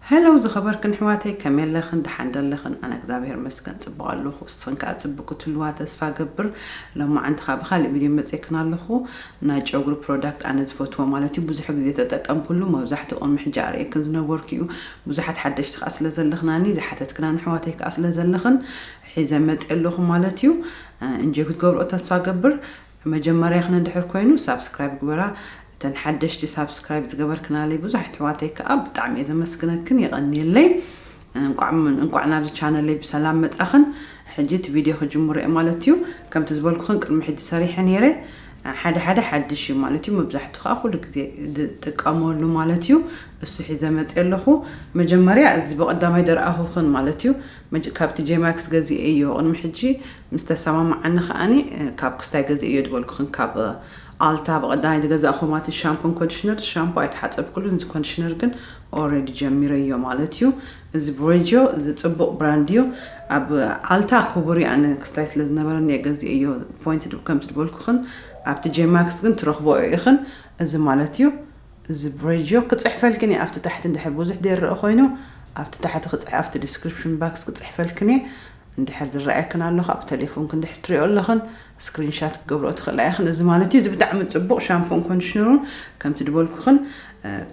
Hello ዝኸበርክን ኣሕዋተይ ከመይ ኣለኽን ደሓን ዶ ኣለኽን ኣነ እግዝኣብሄር ይመስገን ጽቡቕ ኣለኹ ንስኽን ከኣ ጽብቅ ክትህልዋ ተስፋ እገብር ሎማዓንቲ ከኣ ብኻልእ ቪድዮ መጼክን ኣለኹ ናይ ጨጉሪ ፕሮዳክት ኣነ ዝፈትዎ ማለት እዩ ብዙሕ ግዜ ተጠቀምክሉ መብዛሕትኡ ቅድሚ ሕጂ ኣርእየክን ዝነበርኩ እዩ ብዙሓት ሓደሽቲ ከኣ ስለ ዘለኽናኒ ዝሓተትክናን ኣሕዋተይ ከኣ ስለ ዘለኽን ሒዘ መጼ ኣለኹ ማለት እዩ እንጆይ ክትገብርኦ ተስፋ እገብር መጀመርያክን እንድሕር ኮይኑ ሳብስክራይብ ግበራ እተን ሓደሽቲ ሳብስክራይብ ዝገበርክናለይ ብዙሕ ኣሕዋተይ ከኣ ብጣዕሚ እየ ዘመስግነክን የቀንየለይ እንቋዕ እንቋዕ ናብዚ ቻነለይ ብሰላም መጻኽን ሕጂ እቲ ቪድዮ ክጅምሮ እየ ማለት እዩ ከምቲ ዝበልኩኽን ቅድሚ ሕጂ ሰሪሐ ነይረ ሓደ ሓደ ሓድሽ እዩ ማለት እዩ መብዛሕቱ ከዓ ኩሉ ግዜ ዝጥቀመሉ ማለት እዩ እሱ ሒዘ መፅእ ኣለኹ መጀመርያ እዚ ብቀዳማይ ደርኣኹኽን ማለት እዩ ካብቲ ጄማክስ ገዚኤ እዮ ቅድሚ ሕጂ ምስ ተሰማማዓኒ ከኣ ካብ ክስታይ ገዚኤዮ ዝበልኩኽን ካብ ኣልታ ብቀዳማይ ዝገዛእኹም ኣቲ ሻምፖን ኮንዲሽነር ሻምፖ ኣይተሓጸብኩሉን እዚ ኮንዲሽነር ግን ኦረዲ ጀሚረዮ ማለት እዩ እዚ ብሬጅዮ እዚ ጽቡቅ ብራንድ እዩ ኣብ ኣልታ ክቡር እዩ ኣነ ክስታይ ስለ ዝነበረኒ እየ ገዚኤዮ ፖይንት ከምቲ ዝበልኩኽን ኣብቲ ጄማክስ ግን ትረኽቦኦ ኢኽን እዚ ማለት እዩ እዚ ብሬጅዮ ክጽሕፈልክን እየ ኣብቲ ታሕቲ እንድሕር ብዙሕ ዘይረኣ ኮይኑ ኣብቲ ታሕቲ ክጽሕ ኣብቲ ዲስክሪፕሽን ባክስ ክጽሕፈልክን እየ እንድሕር ዝረኣየክን ኣሎ ካብ ተሌፎንክን እንድሕር ትሪኦ ኣለኽን ስክሪን ሻት ክትገብርኦ ትኽእላ ኢኽን እዚ ማለት እዩ እዚ ብጣዕሚ ጽቡቕ ሻምፖን ኮንዲሽነሩን ከምቲ ድበልኩኽን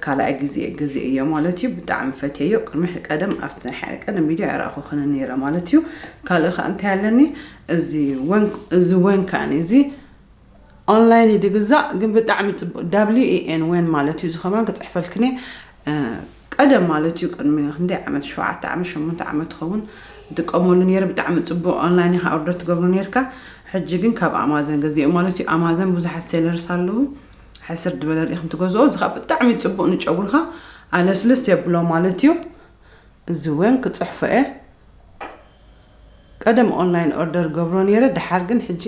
ካልኣይ ግዜ ግዜ እዮ ማለት እዩ ብጣዕሚ ፈትየዮ ቅድሚ ቀደም ኣብቲ ናይ ሓደ ቀደም ቪድዮ ኣይረኣኹኽን ነይረ ማለት እዩ ካልእ ከዓ እንታይ ኣለኒ እዚ ወን እዚ ወን ከዓኒ እዚ ኦንላይን እዩ ድግዛእ ግን ብጣዕሚ ፅቡቅ ዳብሊዩ ኤን ወን ማለት እዩ ዝኸማን ክፅሕፈልክኒ ቀደም ማለት እዩ ቅድሚ ክንደይ ዓመት ሸውዓተ ዓመት ሸሞንተ ዓመት ትኸውን እጥቀመሉ ነይረ ብጣዕሚ ፅቡቅ ኦንላይን ኢኻ ኦርደር ትገብሮ ነርካ ሕጂ ግን ካብ ኣማዘን ገዚኦም ማለት እዩ ኣማዘን ብዙሓት ሴለርስ ኣለዉ ሕስር ድበለ ርኢኹም ትገዝኦ እዚ ከዓ ብጣዕሚ ፅቡቅ ንጨጉርካ ኣለስልስ የብሎ ማለት እዩ እዚ እውን ክፅሕፎ እየ ቀደም ኦንላይን ኦርደር ገብሮ ኔረ ደሓር ግን ሕጂ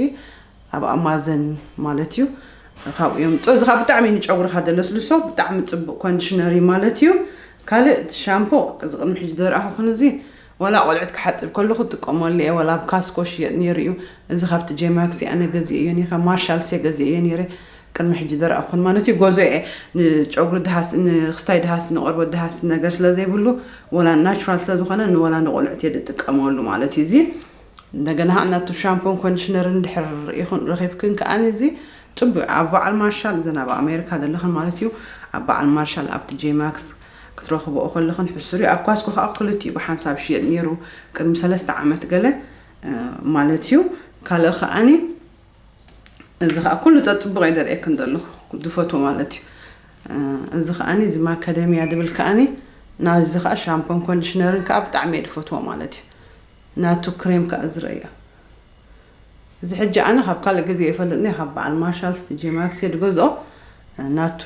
ኣብ ኣማዘን ማለት እዩ ካብኡ የምፅኦ እዚ ከዓ ብጣዕሚ እዩ ንጨጉርካ ዘለስልሶ ብጣዕሚ ፅቡቅ ኮንዲሽነር እዩ ማለት እዩ ካልእ እቲ ሻምፖ እዚ ቅድሚ ሕጂ ዘርኣኹኽን እዚ ወላ ቆልዑት ክሓፅብ ከለኹ ጥቀመሉ እየ ወላ ኣብ ካስኮ ሽየጥ ኔሩ እዩ እዚ ካብቲ ጄማክሲ ኣነ ገዚኤዮ ኔረ ካብ ማርሻልስ እየ ገዚኤዮ ኔረ ቅድሚ ሕጂ ደረቅ ክኾን ማለት እዩ ጎዞ እየ ንጨጉሪ ድሃስ ንክስታይ ድሃስ ንቆርበት ድሃስ ነገር ስለ ዘይብሉ ወላ ናቹራል ስለ ዝኾነ ንወላ ንቆልዑት እየ ዝጥቀመሉ ማለት እዩ እዚ እንደገና ከዓ ናቱ ሻምፖን ኮንዲሽነርን ድሕር ይኹን ረኺብክን ከዓ እዚ ፅቡቅ ኣብ በዓል ማርሻል እዘን ኣብ ኣሜሪካ ዘለኽን ማለት እዩ ኣብ በዓል ማርሻል ኣብቲ ጄማክስ ክትረኽብኦ ከለኽን ሕሱር እዩ ኣብ ኳስኮ ከዓ ክልቲኡ ብሓንሳብ ሽየጥ ነይሩ ቅድሚ ሰለስተ ዓመት ገለ ማለት እዩ ካልእ ከዓኒ እዚ ከኣ ኩሉ ጸጽቡቕ እየ ዘርእየክን ዘለኹ ድፈትዎ ማለት እዩ። እዚ ከኣኒ እዚ ማካደምያ ድብል ከኣኒ ናዚ ከኣ ሻምፖን ኮንዲሽነርን ከኣ ብጣዕሚ እየ ድፈትዎ ማለት እዩ። ናቱ ክሬም ከኣ ዝርእዮ እዚ ሕጂ ኣነ ካብ ካልእ ግዜ ይፈልጥኒ ካብ በዓል ማርሻል ስቲ ጄማክስ እየ ድገዝኦ ናቱ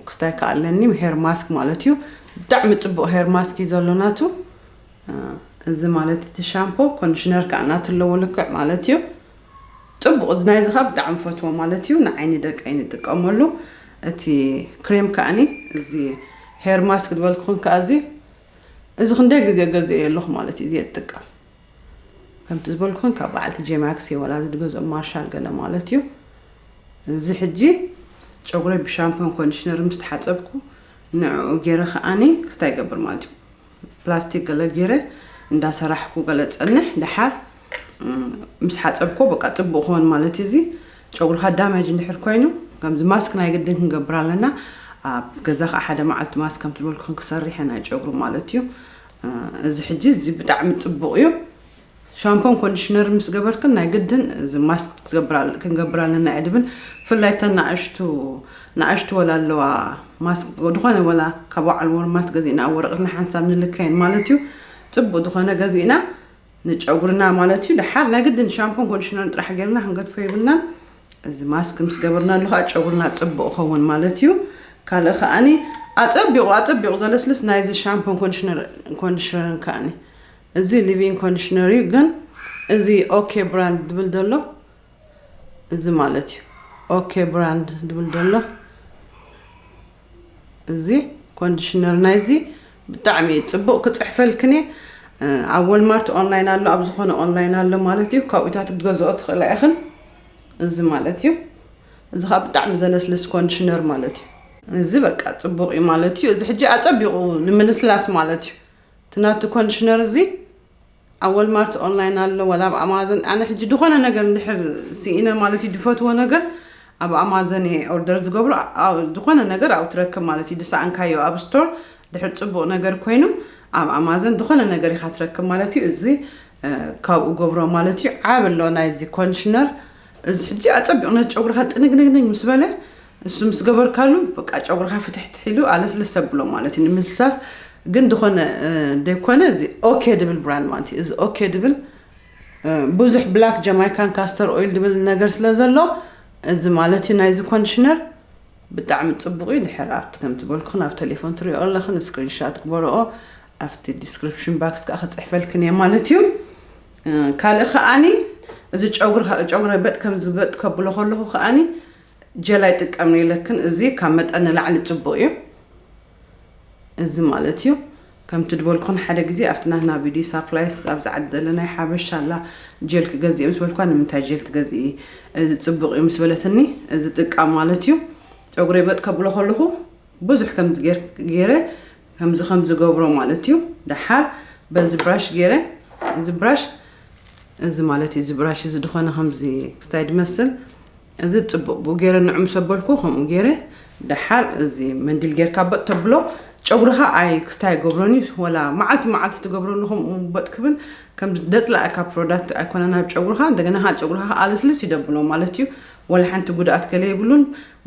ክስታይ ከኣ ኣለኒ ሄር ማስክ ማለት እዩ ብጣዕሚ ጽቡቕ ሄር ማስክ እዩ ዘሎ ናቱ እዚ ማለት እቲ ሻምፖ ኮንዲሽነር ከኣ ናቱ ኣለዎ ልክዕ ማለት እዩ ጽቡቅ ናይ እዚ ከኣ ብጣዕሚ ፈትዎ ማለት እዩ ንዓይኒ ደቀይ ንጥቀመሉ እቲ ክሬም ከኣኒ እዚ ሄር ማስክ ዝበልክኹን ከኣ እዚ እዚ ክንደይ ግዜ ገዝኤ ኣለኹ ማለት እዩ እዚ ትጥቀም ከምቲ ዝበልኩን ካብ በዓልቲ ጄማክስ እየ ዋላ ዝድገዝኦ ማርሻል ገለ ማለት እዩ እዚ ሕጂ ጨጉረይ ብሻምፖን ኮንዲሽነር ምስ ተሓፀብኩ ንዕኡ ገይረ ከዓኒ ክስታይ ይገብር ማለት እዩ ፕላስቲክ ገለ ጌረ እንዳ ሰራሕኩ ገለ ጸንሕ ደሓር ምስ ሓጸብኮ በቃ ጽቡቅ ክኮን ማለት እዩ እዚ ጨጉርካ ዳመጅ እንድሕር ኮይኑ ከምዚ ማስክ ናይ ግድን ክንገብር ኣለና ኣብ ገዛ ከዓ ሓደ መዓልቲ ማስክ ከምቲ ዝበልኩ ክንክሰርሕ ኢና ጨጉሪ ማለት እዩ እዚ ሕጂ እዚ ብጣዕሚ ጽቡቅ እዩ ሻምፖን ኮንዲሽነርን ምስ ገበርክን ናይ ግድን እዚ ማስክ ክትገብራ ክንገብር ኣለና እየ ድብል ብፍላይ እተን ንኣሽቱ ንኣሽቱ ወላ ኣለዋ ማስክ ድኾነ ወላ ካብ በዓል ወርማት ገዚእና ኣብ ወረቐት ንሓንሳብ ንልከየን ማለት እዩ ፅቡቅ ዝኾነ ገዚእና ንጨጉርና ማለት እዩ ድሓር ናይ ግድን ሻምፖን ኮንዲሽነርን ጥራሕ ገይርና ክንገድፎ የብልናን እዚ ማስክ ምስ ገበርና ኣለኻ ጨጉርና ፅቡቅ ኸውን ማለት እዩ ካልእ ከዓኒ ኣፀቢቑ ኣፀቢቑ ዘለስልስ ናይዚ ሻምፖን ኮንዲሽነርን ከዓኒ እዚ ሊቪንግ ኮንዲሽነር እዩ ግን እዚ ኦኬ ብራንድ ድብል ደሎ እዚ ማለት እዩ ኦኬ ብራንድ ድብል ደሎ እዚ ኮንዲሽነር ናይዚ ብጣዕሚ እዩ ፅቡቅ ክፅሕፈልክን እየ ኣብ ወልማርት ኦንላይን ኣሎ ኣብ ዝኾነ ኦንላይን ኣሎ ማለት እዩ ካብኡታት ክትገዝኦ ትኽእላ ኢኽን እዚ ማለት እዩ እዚ ከዓ ብጣዕሚ ዘለስልስ ኮንዲሽነር ማለት እዩ እዚ በቃ ፅቡቅ እዩ ማለት እዩ እዚ ሕጂ ኣፀቢቁ ንምልስላስ ማለት እዩ እቲ ናቱ ኮንድሽነር እዚ ኣብ ወልማርት ኦንላይን ኣሎ ወላ ኣብ ኣማዘን ኣነ ሕጂ ድኾነ ነገር እንድሕር ስኢነ ማለት እዩ ድፈትዎ ነገር ኣብ ኣማዘን እየ ኦርደር ዝገብሮ ዝኾነ ነገር ኣብኡ ትረክብ ማለት እዩ ድሰኣንካዮ ኣብ ስቶር ድሕር ፅቡቕ ነገር ኮይኑ ኣብ ኣማዘን ዝኾነ ነገር ኢኻ ትረክብ ማለት እዩ እዚ ካብኡ ገብሮ ማለት እዩ ዓብ ኣሎ ናይዚ ኮንድሽነር እዚ ሕጂ ኣፀቢቑ ነቲ ጨጉርኻ ጥንግንግንግ ምስ በለ እሱ ምስ ገበርካሉ በቃ ጨጉርካ ፍትሕትሕ ኢሉ ኣለስልስ ተብሎ ማለት እዩ ንምልስላስ ግን ዝኾነ ደይኮነ እዚ ኦኬ ድብል ብራንድ ማለት እዩ እዚ ኦኬ ድብል ብዙሕ ብላክ ጀማይካን ካስተር ኦይል ድብል ነገር ስለ ዘሎ እዚ ማለት እዩ ናይዚ ኮንዲሽነር ብጣዕሚ ፅቡቅ እዩ ድሕር ኣብቲ ከም ትበልኩን ኣብ ቴሌፎን ትሪኦ ኣለኽን ስክሪንሻት ግበረኦ ኣብቲ ዲስክሪፕሽን ባክስ ከዓ ክፅሕፈልክን እየ ማለት እዩ ካልእ ከዓኒ እዚ ጨጉሪ ጨጉረ በጥ ከም ዝበጥ ከብሎ ከለኹ ከዓኒ ጀል ኣይጥቀምይ ኢለክን እዚ ካብ መጠን ንላዕሊ ጽቡቅ እዩ እዚ ማለት እዩ ከምቲ ድበልኩክን ሓደ ግዜ ኣብቲ ናትና ቢዲ ሳፕላይስ ኣብዚ ዓዲ ዘለናይ ሓበሻ ኣላ ጀል ክገዝእ ምስ በልኳ ንምንታይ ጀል ትገዝኢ እዚ ጽቡቅ እዩ ምስ በለትኒ እዚ ጥቃም ማለት እዩ ጨጉረይ በጥ ከብሎ ከለኹ ብዙሕ ከምዚ ገይረ ከምዚ ከምዚ ገብሮ ማለት እዩ ደሓር በዚ ብራሽ ገይረ እዚ ብራሽ እዚ ማለት እዩ እዚ ብራሽ እዚ ድኾነ ከምዚ ክስታይ ድመስል እዚ ጽቡቅ ብ ጌረ ንዑ ሰበልኩ ከምኡ ጌረ ደሓር እዚ መንዲል ጌርካ በጥ ተብሎ ጨጉርኻ ኣይ ክስታይ ይገብሮን እዩ ወላ መዓልቲ መዓልቲ ትገብረሉ ከምኡ በጥ ክብል ከም ደጽላኣካ ፕሮዳክት ኣይኮነን ኣብ ጨጉርኻ እንደገና ከኣ ጨጉርኻ ኣልስልስ ይደብሎ ማለት እዩ ወላ ሓንቲ ጉድኣት ገለ የብሉን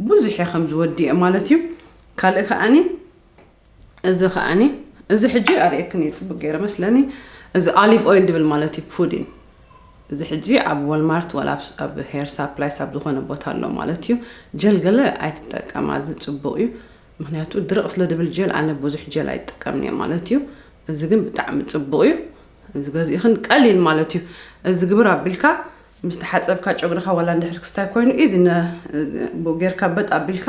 ብዙሕ ከም ዝወድእ ማለት እዩ ካልእ ከኣኒ እዚ ከኣኒ እዚ ሕጂ ኣርእየክን እዩ ጽቡቅ ገይረ መስለኒ እዚ ኣሊቭ ኦይል ድብል ማለት እዩ ፑዲን እዚ ሕጂ ኣብ ወልማርት ወላ ኣብ ሄር ሳፕላይስ ኣብ ዝኾነ ቦታ ኣሎ ማለት እዩ ጀል ገለ ኣይትጠቀማ እዚ ፅቡቅ እዩ ምክንያቱ ድርቅ ስለ ድብል ጀል ኣነ ብዙሕ ጀል ኣይጠቀምን እየ ማለት እዩ እዚ ግን ብጣዕሚ ፅቡቅ እዩ እዚ ገዚእኽን ቀሊል ማለት እዩ እዚ ግብር ኣቢልካ ምስ ተሓፀብካ ጨጉርኻ ዋላ እንድሕር ክስታይ ኮይኑ እዚ ጌርካ በጥ ኣቢልካ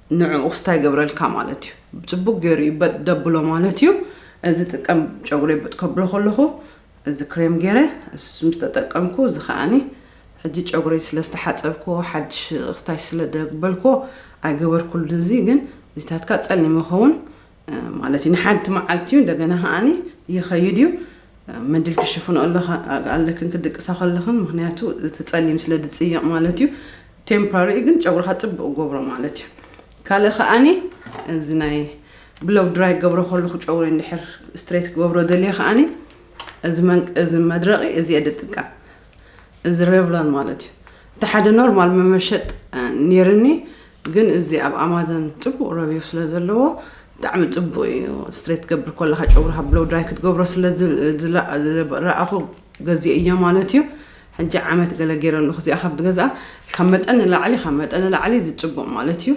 ንዕኡ ክስታይ ይገብረልካ ማለት እዩ ጽቡቅ ገይሩ እዩ በጥ ደብሎ ማለት እዩ እዚ ጥቀም ጨጉረይ በጥ ከብሎ ከለኹ እዚ ክሬም ገይረ እሱ ምስ ተጠቀምኩ እዚ ከዓኒ ሕጂ ጨጉረይ ስለ ዝተሓጸብኩዎ ሓድሽ ክስታይ ስለ ደግበልኩዎ ኣይገበርኩሉን እዚ ግን እዚታትካ ጸሊም ይኸውን ማለት እዩ ንሓንቲ መዓልቲ እዩ እንደገና ከኣኒ ይኸይድ እዩ መድል ክሽፍኖ ኣለክን ክድቅሳ ከለኽን ምክንያቱ እቲ ፀሊም ስለ ድፅይቕ ማለት እዩ ቴምፖራሪ እዩ ግን ጨጉርካ ፅብቅ ገብሮ ማለት እዩ ካልእ ከኣኒ እዚ ናይ ብሎው ድራይ ክገብሮ ከለኹ ጨጉሪ እንድሕር ስትሬት ክገብሮ ደልየ ከኣኒ እዚ መድረቂ እዚ እየ ድጥቀም እዚ ሬቭሎን ማለት እዩ እቲ ሓደ ኖርማል መመሸጥ ነይርኒ ግን እዚ ኣብ ኣማዘን ጽቡቅ ረቪው ስለ ዘለዎ ብጣዕሚ ጽቡቅ እዩ ስትሬት ትገብር ኮለካ ጨጉርካ ብሎው ድራይ ክትገብሮ ስለ ረኣኹ ገዚኤዮ ማለት እዩ ሕጂ ዓመት ገለ ገይረ ኣለኹ እዚኣ ካብ ዝገዝኣ ካብ መጠን ንላዕሊ ካብ መጠን ንላዕሊ እዚ ጽቡቅ ማለት እዩ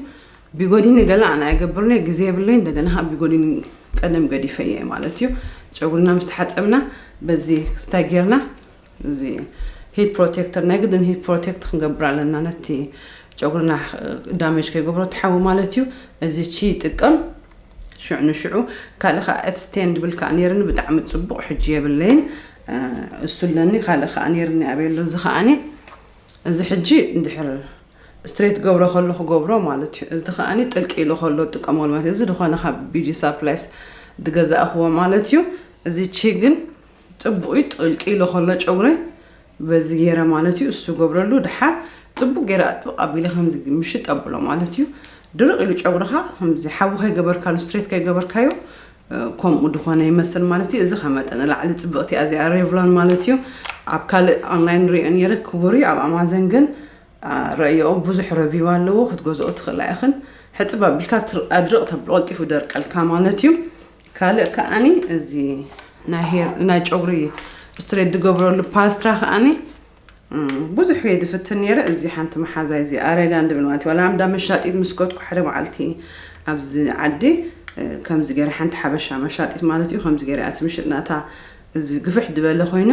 ቢጎዲኒ ገለ ኣነ ኣይገብርንየ ግዜ የብለይ እንደገና ካብ ቢጎዲኒ ቀደም ገዲፈየ ማለት እዩ ጨጉርና ምስ ተሓጸብና በዚ ስታይ ጌርና እዚ ሂት ፕሮቴክተር ናይ ግድን ሂት ፕሮቴክት ክንገብር ኣለና ነቲ ጨጉርና ዳሜጅ ከይገብሮ እቲ ሓዊ ማለት እዩ እዚ ቺ ይጥቀም ሽዑ ንሽዑ ካልእ ከዓ ኤትስቴን ድብል ከዓ ነይርኒ ብጣዕሚ ፅቡቕ ሕጂ የብለይን እሱ ኣለኒ ካልእ ከዓ ነይርኒ ኣበየሎ እዚ ከዓኒ እዚ ሕጂ እንድሕር ስትሬት ገብሮ ከሎ ክገብሮ ማለት እዩ እዚ ከዓኒ ጥልቂ ኢሉ ከሎ ጥቀመሉ ማለት እዩ እዚ ዝኾነ ካብ ቢጂ ሳፕላይስ ዝገዛእኽዎ ማለት እዩ እዚ ቺ ግን ጽቡቅ እዩ ጥልቅ ኢሉ ከሎ ጨጉረይ በዚ ገይረ ማለት እዩ እሱ ገብረሉ ድሓር ጽቡቅ ገይረ ኣጥብቅ ኣቢለ ከምዚ ምሽጥ ኣብሎ ማለት እዩ ድርቅ ኢሉ ጨጉርኻ ከምዚ ሓዊ ከይገበርካሉ ስትሬት ከይገበርካዮ ከምኡ ድኾነ ይመስል ማለት እዩ እዚ ከመጠን ላዕሊ ጽብቕቲ እያ እዚኣ ሬቭሎን ማለት እዩ ኣብ ካልእ ኦንላይን ሪኦ ነይረ ክቡር እዩ ኣብ ኣማዘን ግን ረእዮ ብዙሕ ረቪው ኣለዎ ክትገዝኦ ትኽእላ ኢኽን ሕፅብ ኣቢልካ ኣድርቕ ተብሎ ቀልጢፉ ደርቀልካ ማለት እዩ ካልእ ከኣኒ እዚ ናይ ጨጉሪ ስትሬት ዝገብረሉ ፓስትራ ከኣኒ ብዙሕ እየ ዝፍትን ነይረ እዚ ሓንቲ መሓዛይ እዚ ኣረጋን ድብል ማለት እዩ ዋላ እንዳ መሻጢት ምስ ከድኩ ሓደ መዓልቲ ኣብዚ ዓዲ ከምዚ ገይረ ሓንቲ ሓበሻ መሻጢት ማለት እዩ ከምዚ ገይረ ኣቲ ምሽጥና እታ እዚ ግፍሕ ዝበለ ኮይኑ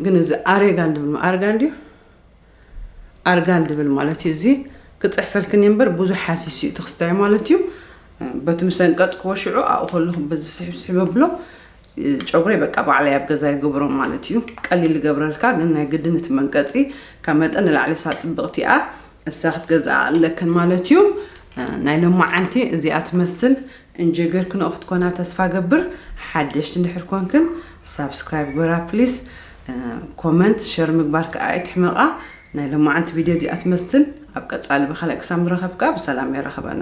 ግን እዚ ኣሬጋን ድብል ኣርጋን ድዩ ኣርጋል ድብል ማለት እዩ እዚ ክጽሕፈልክን እምበር ብዙሕ ሓሲስ እዩ እቲ ክስታይ ማለት እዩ በቲ ምስ ኣንቀጽክዎ ሽዑ ኣብኡ ከለኹ በዚ ስሕብስሕብ ኣብሎ ጨጉረይ በቃ ባዕላይ ኣብ ገዛ ይገብሮ ማለት እዩ ቀሊል ይገብረልካ ግን ናይ ግድን እቲ መንቀጺ ካብ መጠን ንላዕሊ እሳ ጽብቕቲ እያ እሳ ክትገዝኣ ኣለክን ማለት እዩ ናይ ሎማዓንቲ እዚኣ ትመስል እንጀገር ክንኦ ክትኮና ተስፋ ገብር ሓደሽቲ እንድሕር ኮንክን ሳብስክራይብ ግበራ ፕሊስ ኮመንት ሸር ምግባር ከኣ ኣይትሕመቃ። ናይ ሎማዓንቲ ቪድዮ እዚኣ ትመስል ኣብ ቀጻሊ ብካልእ ክሳብ ንራከብ ከኣ ብሰላም የራክበና።